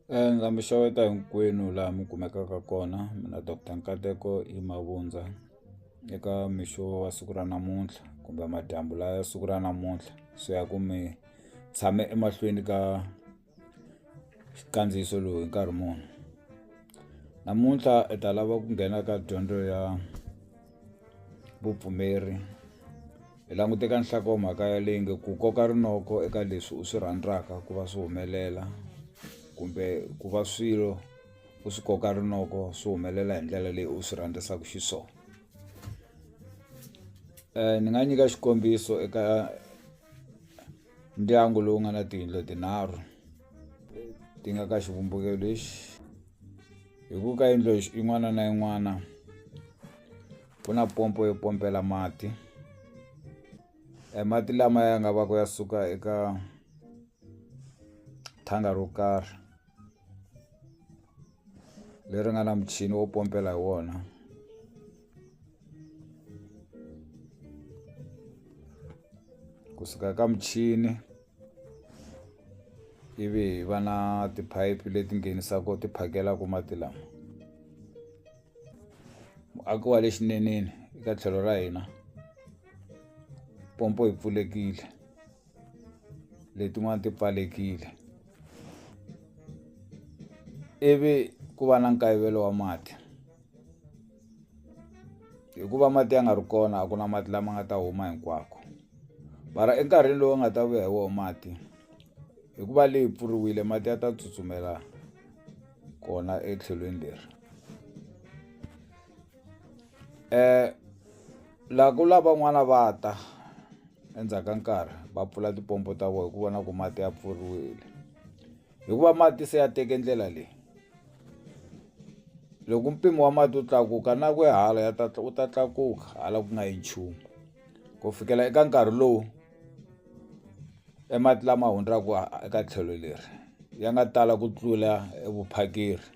Ndza mi xeweta hinkwenu laha mi kumekaka kona mina doctor Nkateko I Mavundza eka mixo wa siku ra namuntlha kumbe madyambu la ya siku ra namuntlha swi ya ku mi tshame emahlweni ka xikandziyiso lowu hi nkarhi muni namuntlha hi ta lava ku nghena ka dyondzo ya vupfumeri. Hi languta eka nhlokomhaka ya leyi nge ku koka rinoko eka leswi u swi rhandzaka ku va swi humelela kumbe ku va swilo u swi koka rinoko swi humelela hi ndlela leyi u swi rhandzaka xiswona ni nga nyika xikombiso eka ndyangu lowu nga na tiyindlu tinharhu ti nga ka xivumbeko lexi hi ku ka yindlu yin'wana na yin'wana. ku na pompo yo pompela mati e mati lama ya nga va ku ya suka eka thanga ro karhi leri nga na muchini wo pompela hi wona kusuka ka muchini ivi hi va na tiphayiphi leti nghenisaka ti phakelaka mati lama muaki wa le xineneni eka tlhelo ra hina pompo yi pfulekile letin'wana ti pfalekile ivi ku va na nkayivelo wa mati hikuva mati ya nga ri kona a ku na mati lama nga ta huma hinkwako mara enkarhini lowu nga ta vuya hi wona mati hikuva leyi pfuriwile mati ya ta tsutsumela kona etlhelweni leri. la ku lavan'wana va ta endzhaku ka nkarhi va pfula tipompo ta vona hi ku vona ku mati ya pfuriwile hikuva mati se ya teke ndlela leyi loko mpimo wa mati wu tlakuka na ku ya hala ya ta wu ta tlakuka hala ku nga yi nchumu ku fikela eka nkarhi lowu. E mati lama hundzaka eka tlhelo leri ya nga tala ku tlula evuphakeri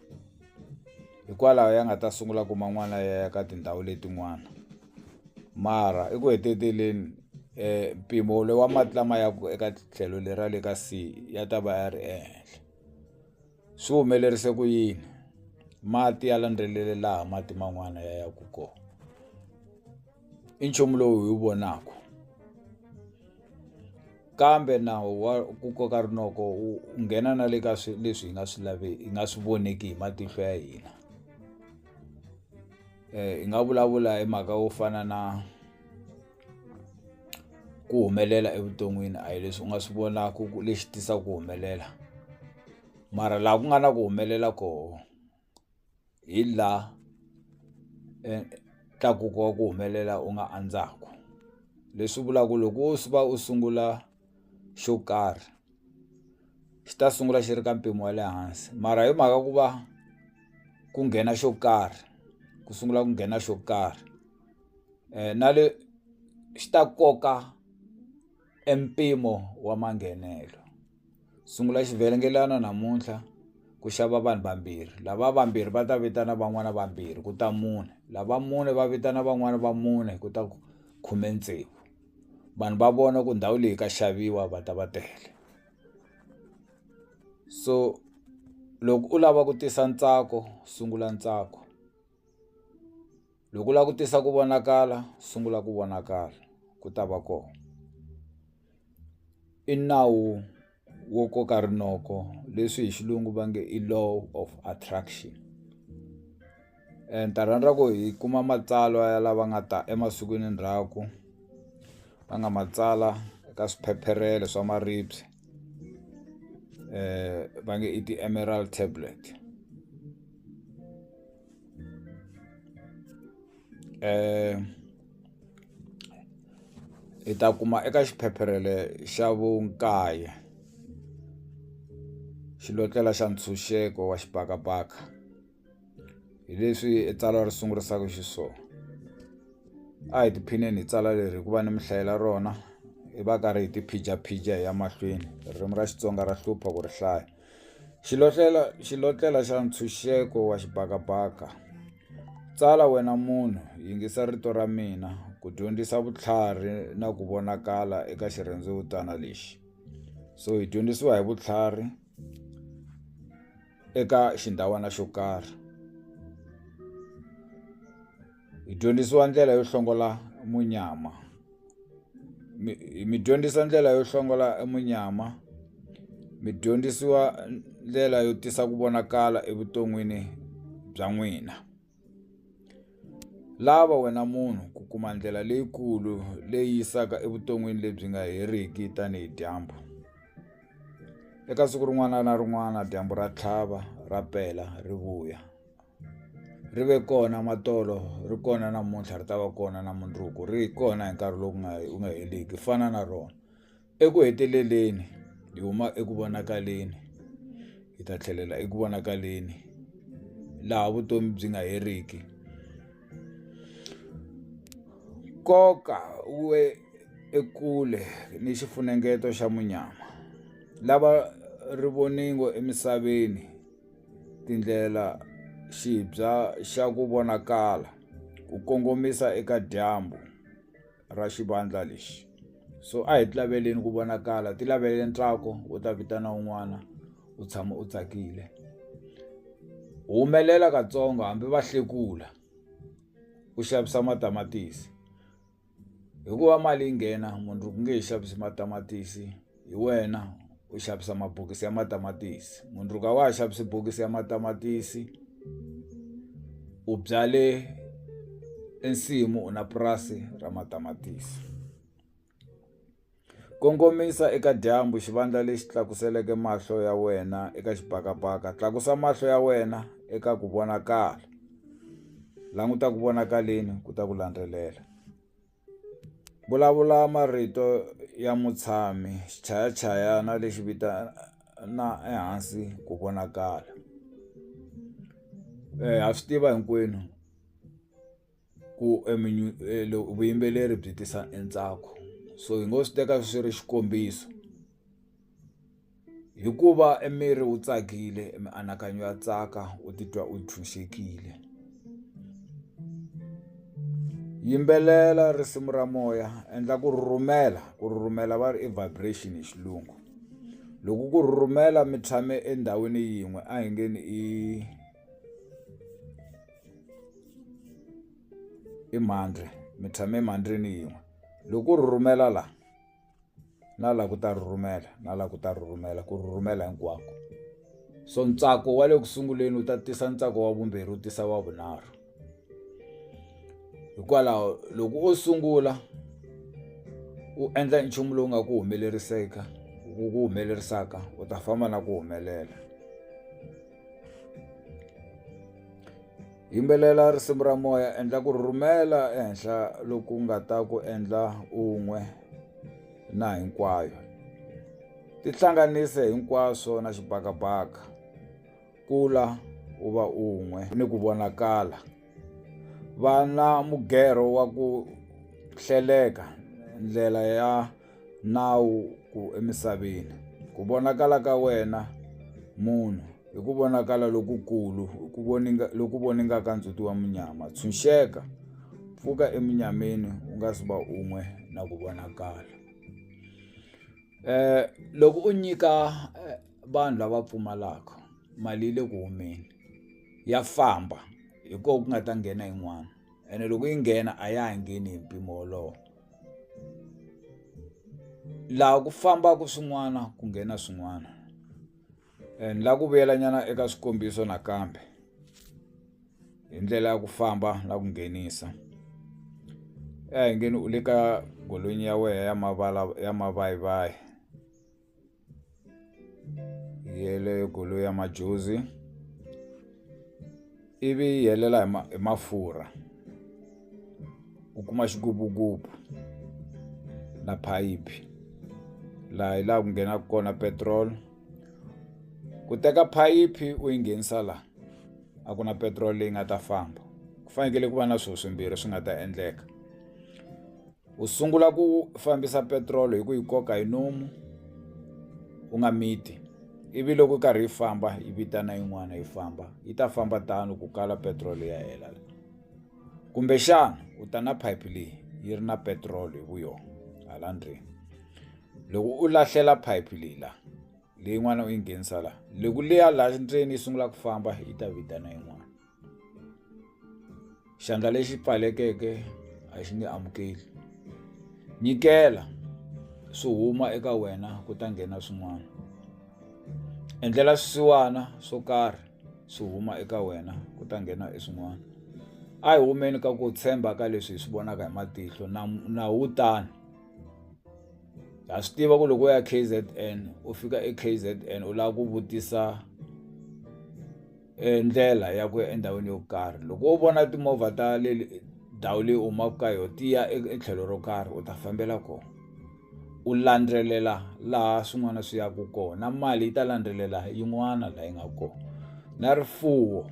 hikwalaho ya nga ta sungula ku man'wana ya ya ka tindhawu letin'wana mara eku heteleleni um mpimo wa mati lama yaka eka tlhelo leri ra le ka sea ya ta va ya ri ehenhla. Swi humelerise ku yini? Mati ya landzelele laha mati man'wana ya yaka kona. I nchumu lowu hi wu vonaka. Kambe nawu wa ku koka rinoko wu nghena na le ka leswi hi nga swi laveki hi nga swi voneki hi matihlo ya hina. Hi nga vulavula hi mhaka yo fana na. ku humelela evuton'wini a hi leswi u nga swi vonaka ku lexi tisaka ku humelela mara laha ku nga na ku humelela koho hi la tlakuka wa ku humelela u nga andzaku leswi vulaka ku loko wo va u sungula. xo karhi xi ta sungula xi ri ka mpimo wa le hansi mara hi mhaka ku va ku nghena xo karhi ku sungula ku nghena xo karhi na le xi ta koka e mpimo wa manghenelo sungula xivhengelana namuntlha ku xava vanhu vambirhi lava vambirhi va ta vitana van'wana vambirhi ku ta mune lava mune va vitana van'wani va mune ku ta khume tsevu. vanhu va vona ku ndhawu leyi ka xaviwa va ta va tele so loko u lava ku tisa ntsako sungula ntsako loko u lava ku tisa ku vonakala sungula ku vonakala ku ta va kona i nawu. wo koka rinoko leswi hi xilungu va nge i law of attraction ni ta rhandza ku hi kuma matsalwa ya lava nga ta emasikwini endzhaku va nga ma tsala ka swiphepherele swa maribye va nge i ti-emeral tablet. hi ta kuma eka xiphepherele xa vukaye xilotlela xa ntshunxeko wa xibakabaka hi leswi i tsalwa ri sungurisaka xiswona a hi tiphineni hi tsala leri hikuva ni mi hlayela rona hi va ka ri hi tiphijapija hi ya mahlweni ririmi ra Xitsonga ra hlupha ku ri hlaya Xilotlela, xilotlela xa ntshunxeko wa xibakabaka. Tsala wena munhu, yingisa rito ra mina ku dyondzisa vutlhari na ku vonakala eka xirhendzevutana lexi. So hi dyondzisiwa hi vutlhari eka xindhawana xo karhi. hi dyondzisiwa ndlela yo hlongola munyama mi mi dyondzisa ndlela yo hlongola e munyama mi dyondzisiwa ndlela yo tisa ku vonakala evuton'wini bya n'wina lava wena munhu ku kuma ndlela leyikulu leyi yisaka evuton'wini lebyi nga heriki tanihi dyambu eka siku rin'wana na rin'wana dyambu ra tlhava ra pela ri vuya. ri ve kona ma tolo ri kona namuntlha ri ta va kona na mundzuku ri kona hi nkarhi lowu nga wu nga heriki ku fana na rona eku heteleleni hi huma eku vonakaleni hi ta tlhelela eku vonakaleni laha vutomi byi nga heriki nkoka we ekule ni xifunengeto xa munyama lava ri voningo emisaveni. tindlela xibya xa ku vonakala ku kongomisa eka dyambu ra xivandla lexi so a hi ti laveleni ku vonakala ti lavele ntsako u ta vitana un'wana u tshama u tsakile humelela katsongo hambi va hlekula u xavisa matamatisi hikuva mali yi nghena mundzuku u nge he xavisi matamatisi hi wena u xavisa mabokisi ya matamatisi mundzuku a wa ha xavisi bokisi ya matamatisi u byale e nsimu u na purasi ra matamatisi. Kongomisa eka dyambu, xivandla lexi tlakuseleke mahlo ya wena eka xibakabaka. Tlakusa mahlo ya wena eka ku vonakala. Languta ku vonakaleni ku ta ku landzelela. Vulavula marito ya mutshami, xichayachayana lexi vitana ehansi ku vonakala. Ha swi tiva hinkwenu. ku vuyimbeleri byi tisa e ntsako so hi ngo swi teka swi ri xikombiso hikuva e miri wu tsakile e mianakanyo ya tsaka u titwa u tshunxekile yimbelela risimu ra moya endla ku rhurhumela ku rhurhumela va ri i vibration hi xilungu loko ku rhurhumela mi tshame endhawini yin'we a hi nge ni i i mandlhi mi tshame emandlhini yin'we loko ku rhurhumela la na la ku ta rhurhumela na la ku ta rhurhumela ku rhurhumela hinkwako so ntsako wa le ku sunguleni wu ta tisa ntsako wa vumbirhi wu tisa wa vunharhu hikwalaho loko o sungula u endla nchumu lowu nga ku humeleriseka ku ku humelerisaka u ta famba na ku humelela. yimbelela risimu ra moya endla ku rhurhumela ehenhla loku nga ta ku endla un'we na hinkwayo tihlanganise hinkwaswo na xibakabaka kula u va un'we ni ku vonakala. va na mugerho wa ku hleleka ndlela ya nawu ku emisaveni, ku vonakala ka wena munhu, hi ku vonakala lokukulu loku voningaka ndzhuti wa munyama. Tshunxeka, pfuka emunyameni u nga si va un'we na ku vonakala. Loko u nyika. vanhu lava pfumalaka mali yi le ku humeni ya famba hi ko ku nga ta nghena yin'wana ene loko yi nghena a ya ha ngheni hi mpimo wolowo laha ku fambaku swin'wana ku nghena swin'wana and la ku vuyela nyana eka swikombiso nakambe hi ndlela ya ku famba na ku nghenisa eya hi nge ni u le ka golonyi ya wehe ya mavala ya mavayivayi. yeleyo goloi ya majozi ivi yi helela hi ma hi mafurha u kuma xigubugubu na phayiphi laha hi laha ku nghenaka kona petrol ku teka phayiphi u yi nghenisa la a ku na petiroli leyi nga ta famba ku fanekele ku va na swo swimbirhi swi nga ta endleka. u sungula ku fambisa petirolo hi ku yi koka hi nomu u nga miti ivi loko yi karhi yi famba yi vitana yin'wana yi famba yi ta famba tano ku kala petiroli ya hela kumbexana u ta na phayiphi leyi yi ri na petiroli hi vuyona hala ndzeni loko u lahlela phayiphi leyi la leyin'wana u yi nghenisa la loko leya laha ndzeni yi sungula ku famba yi ta vitana yin'wana xandla lexi pfalekeke a xi nge amukeli nyikela swi huma eka wena ku ta nghena swin'wana endlela swisiwana swo karhi swi huma eka wena ku ta nghena hi swin'wana a hi humeni ka ku tshemba ka leswi hi swi vonaka hi matihlo na na wu tani ha swi tiva ku loko u ya K_Z_N u fika eK_Z_N u lava ku vutisa. ndlela ya ku ya endhawini yo karhi loko wo vona timovha ta le ndhawu leyi u humaka ka yona ti ya etlhelo ro karhi u ta fambela kona u landzelela laha swin'wana swi yaka kona na mali yi ta landzelela yin'wana laha yi nga kona na rifuwo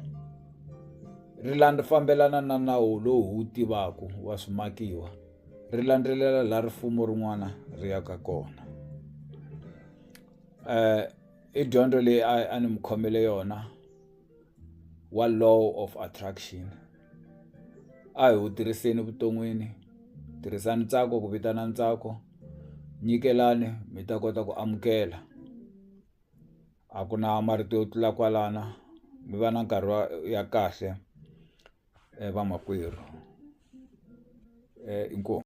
ri fambelana na nawu lowu hi wu tivaka wa swimakiwa ri landzelela laha rin'wana ri yaka kona . i dyondzo leyi a a ni mu khomele yona wa law of attraction a hi wu tirhiseni vuton'wini tirhisani ntsako ku vitana ntsako nyikelani mi ta kota ku amukela a ku na marito yo tlula kwalana mi va na nkarhi wa ya kahle vamakwerhu inkomu.